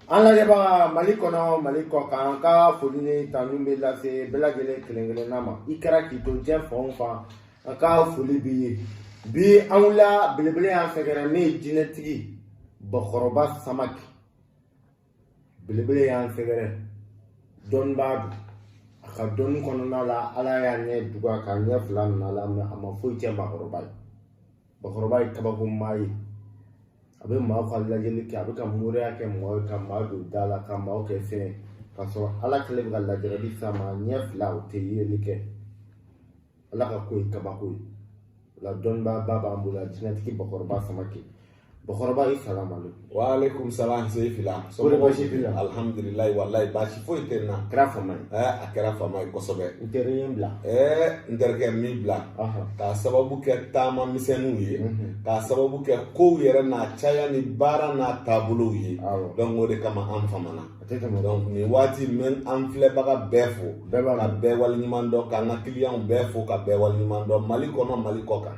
an lajɛbaga mali kɔnɔ mali kɔ kan an ka foli ni tanu bɛ lase bɛɛ lajɛlen kelen kelenna ma i kɛra k'i to diɲɛ fan o fan an ka foli b'i ye bi an wulila belebele y'an sɛgɛrɛ min ye jinɛtigi bakɔrɔba samake belebele y'an sɛgɛrɛ dɔnnibaa don a ka dɔnni kɔnɔna la ala y'a ɲɛ tugu k'a ɲɛ fila minɛ a la mais a ma foyi cɛn bakɔrɔba ye bakɔrɔba ye kabako maa ye a bɛ maaw ka lajɛli kɛ a bɛ ka moriya kɛ maaw ye ka maa don da la ka maaw kɛ fɛn ye k'a sɔrɔ ala kɛlen bɛ ka lajarabi s'a ma ɲɛ fila o tɛ yeli kɛ ala ka ko ye kabako ye o la dɔnnibaaba b'an bolo a jinɛtigi bakɔrɔba samake bakɔrɔba i salamale wa aleykum salam seyifila kori baasi t'i la alhamdulilayi walayi baasi foyi tɛ n na a kɛra fama ye ɛɛ a kɛra fama ye kosɛbɛ n teri ye n bila ɛɛ n terikɛ n m'i bila k'a sababu kɛ taama misɛnninw ye k'a sababu kɛ kow yɛrɛ n'a caya ni baara n'a taabolow ye donc o de kama an famana donc nin waati n bɛ an filɛbaga bɛɛ fo ka bɛɛ waleɲuman dɔn k'an ka kiliyanw bɛɛ fo ka bɛɛ waleɲuman dɔn mali kɔnɔ mali kɔ kan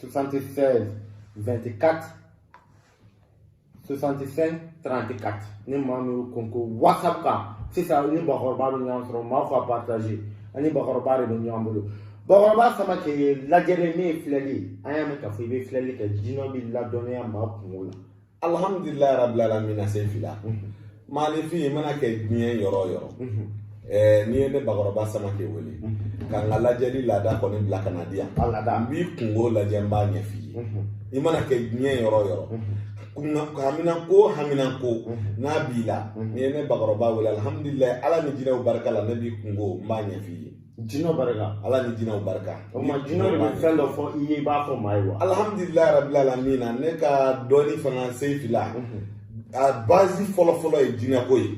76 24 65 34 ni maa min y'o kɔnkɔn whatsapp kan sisan ni bakɔrɔba bɛ ɲɔgɔn sɔrɔ maa fɔ a partage a ni bakɔrɔba de bɛ ɲɔgɔn bolo bakɔrɔba samake lajɛli min ye filɛli ye an y'a mɛn k'a fɔ i bɛ filɛli kɛ jinɛw b'i ladɔnniya maa kungo la alihamdulilayi rabil alamina seyifila maaninfin i mana kɛ diɲɛ yɔrɔ o yɔrɔ ɛɛ n'i ye ne bakɔrɔba samake wele ka n ka lajɛli laada kɔni bila ka na di yan n b'i kungo lajɛ n b'a ɲɛf'i ye i mana kɛ diɲɛ yɔrɔ o yɔrɔ haminanko haminanko n'a b'i la n'i ye ne bakɔrɔba wele alihamdulilayi ala ni jinɛw barika la ne b'i kungo n b'a ɲɛf'i ye jinɛw barika ala ni jinɛw barika o ma jinɛw de bɛ fɛn dɔ fɔ i ye i b'a fɔ maa ye wa alhamdulilayi rabil alamina ne ka dɔnni fana seyifila a bazi fɔlɔ fɔlɔ ye jinɛko ye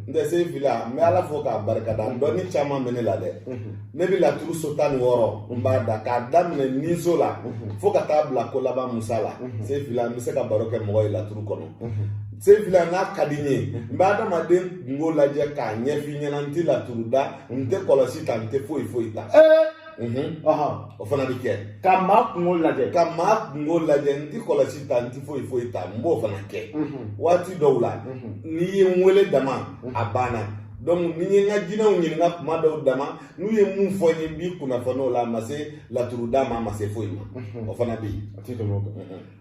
n tɛ seyifila n bɛ ala fo k'a barika da dɔnni caman bɛ ne la dɛ ne bɛ laturu so tan ni wɔɔrɔ n b'a da k'a daminɛ ni so la fo ka taa bila ko laban musa la seyifila n bɛ se ka baro kɛ mɔgɔ ye laturu kɔnɔ seyifila n'a ka di n ye n bɛ adamaden kungo lajɛ k'a ɲɛf'i ɲɛna n tɛ laturu da n tɛ kɔlɔsi ta n tɛ foyi foyi ta o fana bɛ kɛ ka maa kungo lajɛ ka maa kungo lajɛ n ti kɔlɔsi ta n ti foyi foyi ta n b'o fana kɛ waati dɔw la n'i ye n wele dama a banna donc ni n ye n ka jinɛw ɲininka kuma dɔw dama n'u ye mun fɔ n ye n b'i kunnafoni o la a ma se laturu da ma a ma se foyi ma o fana bɛ yen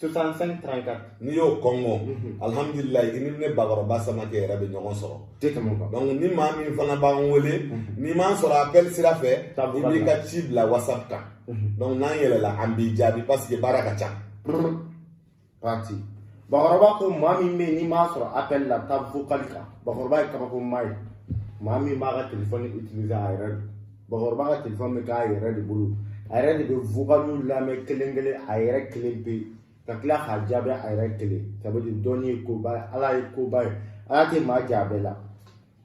soixante-cinq trente-quatre n'i y'o kɔngɔ alihamudulilayi i ni ne bakɔrɔba samakɛ yɛrɛ bɛ ɲɔgɔn sɔrɔ tɛ tɛmɛ o kan donc ni maa min fana b'an wele n'i m'an sɔrɔ appel sira fɛ i b'i ka ci bila whatsapp kan donc n'an yɛlɛla an b'i jaabi parce que baara ka ca pati bakɔrɔba ko maa min bɛ yen n'i m'a sɔrɔ appel la taa vocal kan bakɔrɔba ye kabako maa ye maa min b'a ka telefɔni utiliser a yɛrɛ don bakɔrɔba ka telefɔni bɛ k'a yɛrɛ de bolo a yɛrɛ de bɛ vocaliw lamɛn kelen kelen a yɛrɛ kelen pe ka tila k'a jaabi a yɛrɛ kelen ça veut dire dɔnni ye koba ye ala ye koba ye ala tɛ maa jɛ a bɛɛ la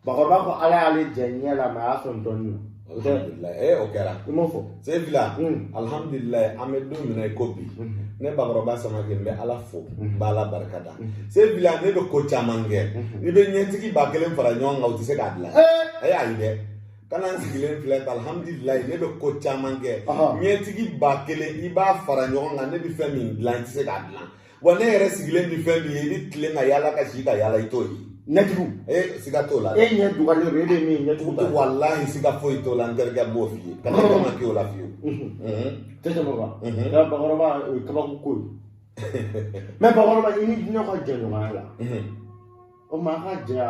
bakɔrɔba ko ala y'ale jɛ ɲɛ la mais a y'a sɔn dɔnni na o tɛ ee o kɛra i m'o fɔ sefila alihamudulilayi an bɛ don min na i ko bi ne bakɔrɔba samake n bɛ ala fo n bɛ ala barikada sefila ne bɛ ko caman kɛ n'i bɛ ɲɛtigi ba kelen fara ɲɔgɔn kan u tɛ se k'a dilan ee ayi dɛ kana n sigilen filɛ tan alhamdulilayi ne bɛ ko caman kɛ ɲɛtigi ba kelen i b'a fara ɲɔgɔn kan ne bɛ fɛn min dilan i tɛ se k'a dilan wa ne yɛrɛ sigilen bɛ fɛn min ye i bɛ tilen ka yaala ka si ka yaala i t'o ye ɲɛtigi e siga t'o la e ɲɛ tugulen don e bɛ min ɲɛtigi t'a walahi siga foyi t'o la n terikɛ b'o f'i ye kana kɛ ma k'i o la fiyewu tɛ tɛmɛ o kan nka bakɔrɔba o ye kabako ko ye mais bakɔrɔba i ni jinɛw ka jɛɲɔgɔnya la o ma a ka jɛya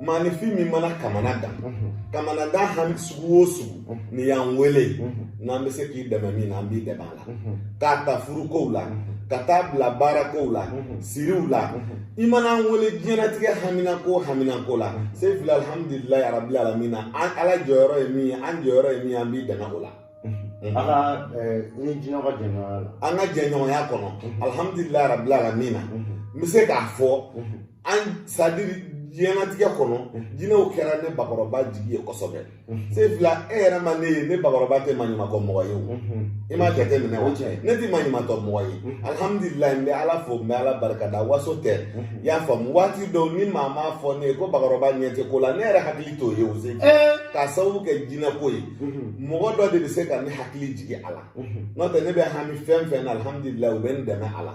maanifin min mana kamanagan kamanagan hami sugu o sugu n'i y'an wele n'an bɛ se k'i dɛmɛ min na an b'i dɛmɛ a la k'a ta furukow la ka taa bila baarakow la siriw la i mana an wele diɲɛnatigɛ haminanko o haminanko la sefila alihamudulilayi arabi alamina an ala jɔyɔrɔ ye min ye an jɔyɔrɔ ye min ye an b'i dɛmɛ o la an ka ni jinɛw ka jɛɲɔgɔnya la an ka jɛɲɔgɔnya kɔnɔ alihamudulilayi arabi alamina n bɛ se k'a fɔ an c'est-à-dire diɲɛnatigɛ kɔnɔ jinɛw kɛra ne bakɔrɔba jigi ye kosɛbɛ sefila e yɛrɛ ma ne ye ne bakɔrɔba tɛ maɲumatɔ mɔgɔ ye o i m'a jate minɛ o tiɲɛ ne tɛ maɲumatɔ mɔgɔ ye alihamudulila n bɛ ala fo n bɛ ala barikada waso tɛ i y'a faamu waati dɔw ni maa m'a fɔ ne ye ko bakɔrɔba ɲɛ tɛ ko la ne yɛrɛ hakili t'o ye o se k'a sababu kɛ jinɛko ye mɔgɔ dɔ de bɛ se ka ne hakili jigin a la n'o tɛ ne bɛ hami fɛn fɛn na alihamudulila u bɛ n dɛmɛ a la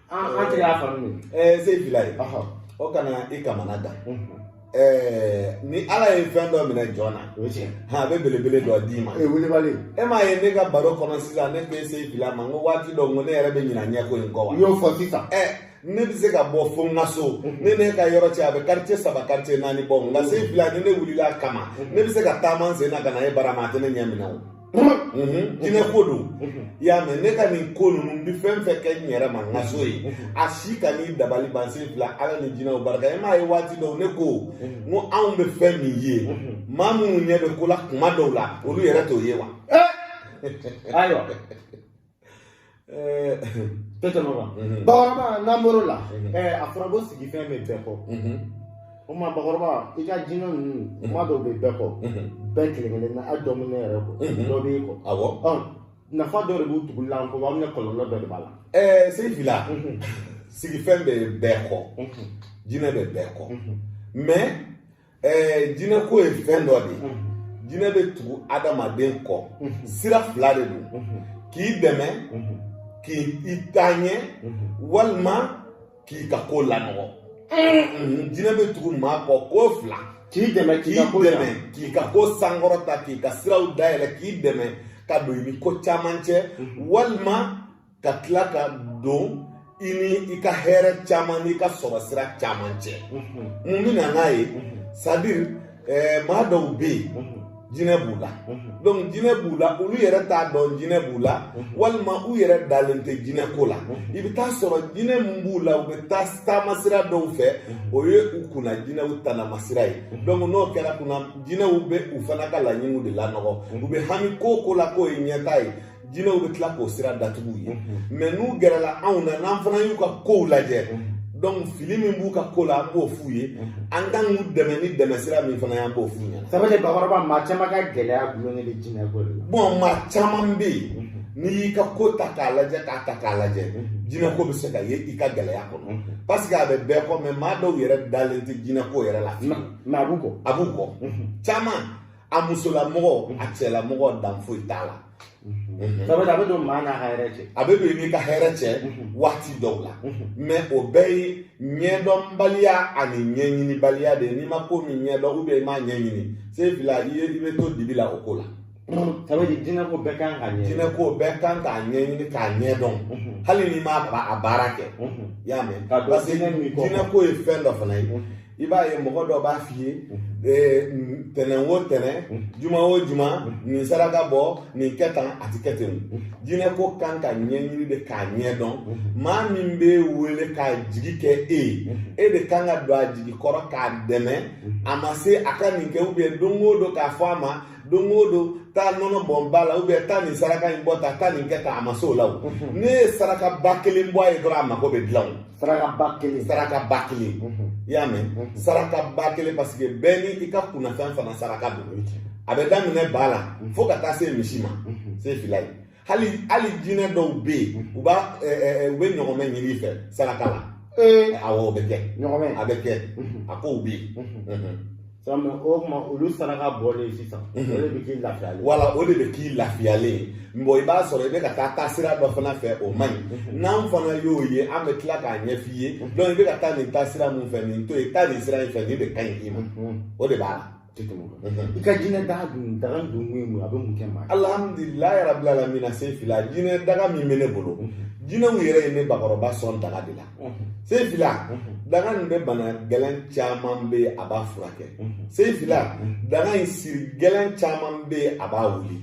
an tɛ i y'a faamu ɛɛ sefila o kana i kamanagan ni ala ye fɛn dɔ minɛ jɔn na o tiɲɛ a bɛ belebele dɔ d'i ma e wulibali e m'a ye ne ka baro kɔnɔ sisan ne ko e sefila ma n ko waati dɔ n ko ne yɛrɛ bɛ ɲina ɲɛko in kɔ wa n y'o fɔ sisan ɛ ne bɛ se ka bɔ fo n ka so ni ne ka yɔrɔ cɛ a bɛ quartier saba quartier naani bɔ nka sefila ni ne wulila a kama ne bɛ se ka taama n sen na ka na e bara maa tɛ ne ɲɛ minɛ o jinɛ ko don i y'a mɛn ne ka nin ko ninnu n bɛ fɛn fɛn kɛ n yɛrɛ ma n ka so ye a si kan'i dabali ban sefila ala ni jinɛw barika e m'a ye waati dɔw ne ko n ko anw bɛ fɛn min ye maa minnu ɲɛ bɛ ko la kuma dɔw la olu yɛrɛ t'o ye wa ayiwa Eh, tɛ tɛmɛ o kan Mhm. bakɔrɔba n'an bɔr'o la Mhm. ɛɛ, a fɔra ko sigifɛn bɛ bɛɛ kɔ Mhm. o tuma bakɔrɔba i ka jinɛ ninnu kuma dɔw bɛ bɛɛ kɔ Mhm. bɛɛ kelen kelen na hali dɔ bɛ ne yɛrɛ kɔ Mhm. dɔ b'e kɔ awɔ ɔ nafa dɔ de b'u tuguli la an kɔ walima kɔlɔlɔ dɔ de b'a la ɛɛ se fila Mhm. sigifɛn bɛ bɛɛ kɔ Mhm. jinɛ bɛ bɛɛ kɔ Mhm. mais ɛɛ jinɛko ye fɛn dɔ de ye jinɛ bɛ tugu adamaden kɔ sira fila de don k'i dɛmɛ k'i taa ɲɛ walima k'i ka ko lanɔgɔ jinɛ bɛ tugu maa kɔ ko fila k'i dɛmɛ k'i dɛmɛ k'i ka ko sankɔrɔta k'i ka siraw dayɛlɛ k'i dɛmɛ ka don i ni ko caman cɛ walima ka tila ka don i ni i ka hɛrɛ caman n'i ka sɔrɔ sira caman cɛ mun bɛ na n'a ye c'est-à-dire maa dɔw bɛ yen jinɛ b'u la donc jinɛ b'u la olu yɛrɛ t'a dɔn jinɛ b'u la walima u yɛrɛ dalen tɛ jinɛ ko la i bɛ t'a sɔrɔ jinɛ min b'u la u bɛ taa taama sira dɔw fɛ o ye u kunna jinɛw tanamasira ye donc n'o kɛra kunna jinɛw bɛ u fana ka laɲiniw de lanɔgɔ u bɛ hami ko o ko la k'o ye ɲɛtaa ye jinɛw bɛ tila k'o sira datugu u ye mais n'u gɛrɛla anw na n'an fana y'u ka kow lajɛ donc fili min b'u ka ko la an b'o f'u ye an kan k'u dɛmɛ ni dɛmɛ sira min fana ye an b'o f'u ɲɛna sɛbɛ de bakɔrɔba maa caman ka gɛlɛya dulonnen bɛ jinɛ ko de la bon maa caman bɛ yen n'i y'i ka ko ta k'a lajɛ k'a ta k'a lajɛ jinɛko bɛ se ka ye i ka gɛlɛya kɔnɔ parce que a bɛ bɛɛ kɔ mais maa dɔw yɛrɛ dalen tɛ jinɛko yɛrɛ la mais a b'u kɔ a b'u kɔ caman a musolamɔgɔ a cɛlamɔgɔ dan foyi t'a la a bɛ don maa n'a ka hɛrɛ cɛ a bɛ don i n'i ka hɛrɛ cɛ waati dɔw la mais o bɛɛ ye ɲɛdɔnbaliya ani ɲɛɲinibaliya de ye n'i ma ko min ɲɛdɔn ou bien i m'a ɲɛɲini se fila i bɛ to dibi la o ko la ça veut dire jinɛ ko bɛɛ kan k'a ɲɛ jinɛ ko bɛɛ kan k'a ɲɛɲini k'a ɲɛ dɔn hali n'i m'a a baara kɛ i y'a mɛn parce que jinɛ ko ye fɛn dɔ fana ye i b'a ye mɔgɔ dɔ b'a f'i ye tɛnɛn o tɛnɛn juma o juma nin saraka bɔ nin kɛ tan a ti kɛ ten jinɛ ko kan ka ɲɛɲini de k'a ɲɛ dɔn maa min b'e wele k'a jigi kɛ e ye e de kan ka don a jigi kɔrɔ k'a dɛmɛ a ma se a ka nin kɛ ou bien don o don k'a fɔ a ma don o don taa nɔnɔ bɔn ba la ou bien taa nin saraka in bɔ tan taa nin kɛ tan a ma se o la o ne ye sarakaba kelen bɔ a ye dɔrɔn a mago bɛ dilan o saraka ba kelen saraka ba kelen mhm. i y'a mɛn mhm. saraka ba kelen parce que bɛɛ ni i ka kunnafɛn fana saraka don a bɛ daminɛ ba la mhm. fo ka taa se misi ma se fila ye hali hali jinɛ dɔw bɛ yen u b'a u bɛ ɲɔgɔmɛ ɲini i fɛ saraka la awɔ o bɛ kɛ a bɛ kɛ a kow bɛ yen Sami o tuma olu saraka bɔlen sisan o de bɛ k'i lafiyalen wala o de bɛ k'i lafiyalen ye bon i b'a sɔrɔ i bɛ ka taa taa sira dɔ fana fɛ o man ɲi n'an fana y'o ye an bɛ tila k'a ɲɛf'i ye donc i bɛ ka taa nin taa sira min fɛ nin to yen taa nin sira in fɛ nin de ka ɲi i ma o de b'a la i ka jinɛ daga dun daga dun ye mun a bɛ mun kɛ maa alhamdulilayi yarabi alamina se fila jinɛ daga min bɛ ne bolo jinɛw yɛrɛ ye ne bakɔrɔba sɔn daga de la se fila daga nin bɛ bana gɛlɛn caman bɛ yen a b'a furakɛ se fila daga in siri gɛlɛn caman bɛ yen a b'a wuli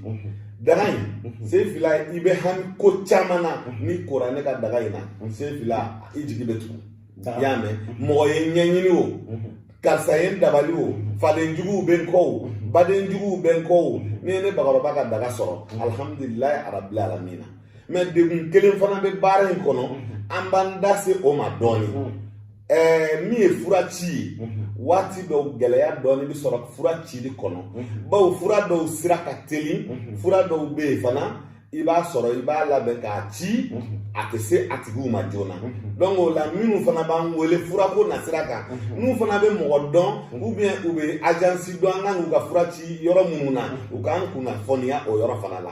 daga in se fila i bɛ hami ko caman na n'i kora ne ka daga in na se fila i jigi bɛ tugu i y'a mɛn mɔgɔ ye n ɲɛɲini o karisa ye n dabali o faden juguw bɛ n kɔ o baden juguw bɛ n kɔ o n'i ye ne bakɔrɔba ka daga sɔrɔ alihamudulilayi arabi alamina mais degun kelen fana bɛ baara in kɔnɔ an b'an da se o ma dɔɔnin ɛɛ min ye fura ci ye waati dɔw gɛlɛya dɔɔni bɛ sɔrɔ fura cili kɔnɔ bawo fura dɔw sira ka teli fura dɔw bɛ yen fana i b'a sɔrɔ i b'a labɛn k'a ci a tɛ se a tigiw ma joona donc o la minnu fana b'an wele furako nasira kan n'u fana bɛ mɔgɔ dɔn ou bien u bɛ agence dɔn an kan k'u ka fura ci yɔrɔ minnu na u k'an kunnafoniya o yɔrɔ fana la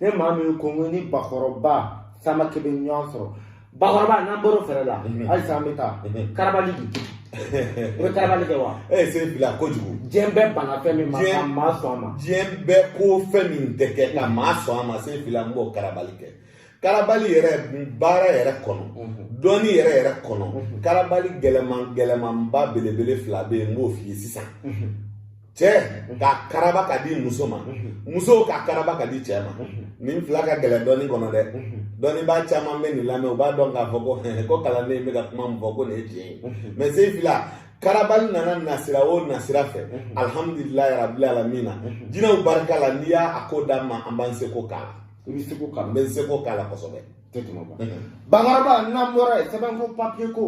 ne maa min ko k'o ni bakɔrɔba Samake bɛ ɲɔgɔn sɔrɔ bakɔrɔba n'an bɔr'o fɛɛrɛ la halisa an bɛ taa karabali di o bɛ karabali kɛ wa e se fila kojugu diɲɛ bɛɛ banna fɛn min ma ka maa sɔn a ma diɲɛ bɛɛ ko fɛn min tɛ kɛ ka maa sɔn a ma se fila n b'o karabali kɛ karabali yɛrɛ baara yɛrɛ kɔnɔ dɔnni yɛrɛ yɛrɛ kɔnɔ karabali gɛlɛman gɛlɛmanba belebele fila bɛ yen n b'o f'i ye sisan cɛ k'a karaba k'a di muso ma muso k'a karaba k'a di cɛ ma nin fila ka gɛlɛn dɔnni kɔnɔ dɛ dɔnnibaa caman bɛ nin lamɛn u b'a dɔn k'a fɔ ko ko kalanden bɛ ka kuma min fɔ ko nin ye tiɲɛ ye mais se fila karabali nana nasira o nasira fɛ alihamudulilayi rabil alamina jinɛw barika la n'i y'a ko d'an ma an b'an seko k'a la i b'i seko k'a la n bɛ n seko k'a la kosɛbɛ tɛ tɛmɛ o kan bakɔrɔba n'an bɔra yen sɛbɛn ko papiye ko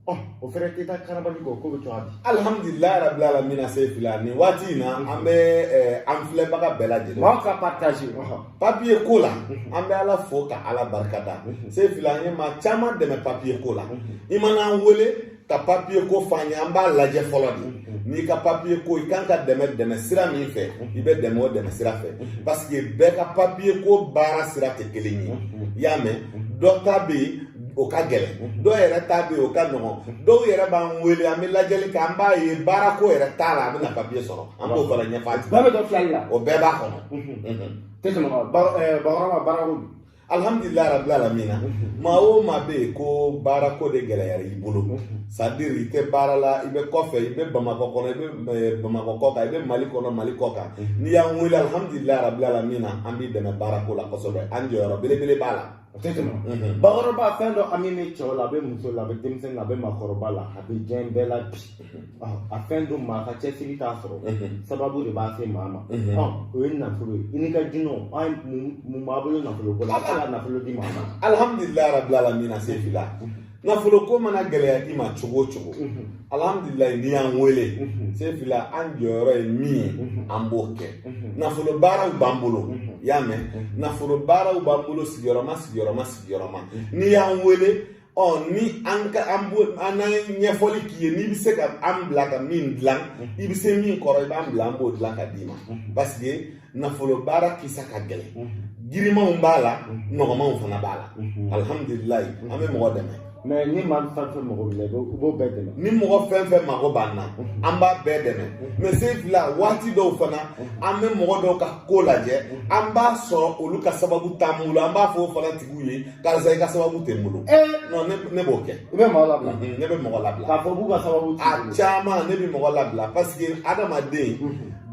ɔ o fɛnɛ tɛ taa karabali kɔ k'o bɛ cogoya di alihamudulila rabi alamina se fila nin waati in na an bɛ an filɛbaga bɛɛ lajɛlen maaw ka partage papiye ko la an bɛ ala fo ka ala barika da se fila an ye maa caman dɛmɛ papiye ko la i mana an wele ka papiye ko f'an ye an b'a lajɛ fɔlɔ de n'i ka papiye ko i kan ka dɛmɛ dɛmɛ sira min fɛ i bɛ dɛmɛ o dɛmɛ sira fɛ parce que bɛɛ ka papiye ko baara sira tɛ kelen ye i y'a mɛn dɔ ta bɛ yen o ka gɛlɛn dɔw yɛrɛ ta bɛ yen o ka nɔgɔn dɔw yɛrɛ b'an wele an bɛ lajɛli kɛ an b'a ye baara ko yɛrɛ t'a la a bɛna papiye sɔrɔ an b'o fana ɲɛfɔ a tigi bɛɛ bɛ dɔn filɛli la o bɛɛ b'a kɔnɔ tɛ tɛmɛ o kan bakɔrɔba baara ko alhamdulillah rabbil alamina maa o maa bɛ yen ko baara ko de gɛlɛyara i bolo c'est à dire i tɛ baara la i bɛ kɔfɛ i bɛ bamakɔ kɔnɔ i bɛ eh, bamakɔ kɔ kan i bɛ mali kɔnɔ mali kɔ kan mhm. n'i y'an wele alhamdulillah rabbil alamina an b'i dɛmɛ baara ko la kosɛbɛ an jɔyɔrɔ belebele b'a la o tɛ tɛmɛ mhm. bakɔrɔba fɛn dɔ a min bɛ cɛw la a bɛ muso la a bɛ denmisɛnnin la a bɛ maakɔrɔba la a bɛ diɲɛ bɛɛ la bi a fɛn don maa ka cɛsiri t'a sɔrɔ sababu de b'a se maa ma o ye nafolo ye i n'i ka jinɛw an mun b'a bolo nafolo ko la ka nafolo di maa ma alihamudulilayi rabi alamina se fila nafolo ko mana gɛlɛya i ma cogo o cogo alihamudulilayi n'i y'an wele se fila an jɔyɔrɔ ye min ye an b'o kɛ nafolo baaraw b'an bolo i y'a mɛn nafolo baaraw b'an bolo sigiyɔrɔma sigiyɔrɔma sigiyɔrɔma n'i y'an wele ɔ ni an ka an bo an ye ɲɛfɔli k'i ye n'i bɛ se ka an bila ka min dilan i bɛ se min kɔrɔ i b'an bila an b'o dilan ka d'i ma parce que nafolo baara kisa ka gɛlɛn girimanw b'a la nɔgɔmanw fana b'a la alihamudulilayi an bɛ mɔgɔ dɛmɛ mais ni maa min fɛn fɛn mago b'i la i b'o bɛɛ dɛmɛ ni mɔgɔ fɛn fɛn mago b'an na an b'a bɛɛ dɛmɛ mais se fila waati dɔw fana an bɛ mɔgɔ dɔw ka ko lajɛ an b'a sɔrɔ olu ka sababu t'an bolo an b'a fɔ o fana tigiw ye karisa i ka sababu tɛ n bolo non ne b'o kɛ i bɛ mɔgɔ labila ne bɛ mɔgɔ labila k'a fɔ k'u ka sababu t'i bolo a caman ne bɛ mɔgɔ labila parce que adamaden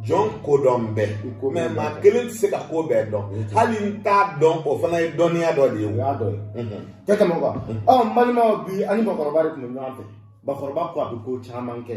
jɔn ko dɔn bɛ mais maa kelen tɛ se ka ko bɛɛ dɔn hali n t'a dɔn o fana ye dɔnniya dɔ de ye o y'a dɔ ye tɛ tɛmɛ o kan ɔ n balimaw bi a ni bakɔrɔba de tun bɛ ɲɔgɔn fɛ bakɔrɔba ko a bɛ ko caman kɛ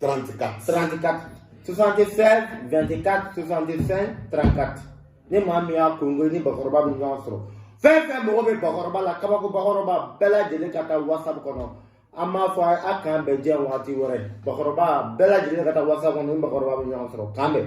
34. 34. 76, 24, 65, 34. Ni maa min y'a kɔnkɔn ni bakɔrɔba bɛ ɲɔgɔn sɔrɔ fɛn fɛn mago bɛ bakɔrɔba la kabako bakɔrɔba bɛɛ lajɛlen ka taa whatsapp kɔnɔ an b'a fɔ a k'an bɛn diɲɛ waati wɛrɛ bakɔrɔba bɛɛ lajɛlen ka taa whatsapp kɔnɔ ni bakɔrɔba bɛ ɲɔgɔn sɔrɔ k'an bɛn